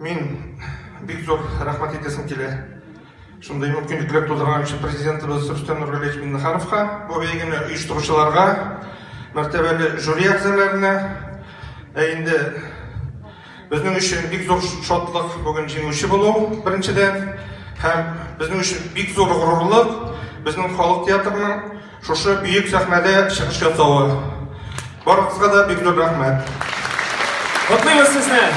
Мин бик зур рәхмәт әйтәсем килә. Шундый мөмкинлекләр тудырган өчен президентыбыз Рөстәм Нургалиевич Миннехановка, бу бәйгене оештыручыларга, мәртәбәле жюри әгъзаларына. Ә инде безнең өчен бик зур шатлык бүген җиңүче булу, беренчедән, һәм безнең өчен бик зур горурлык безнең халык театрының шушы бөек сәхнәдә чыгыш ясавы. Барыгызга да бик зур рәхмәт. Котлыйбыз сезне!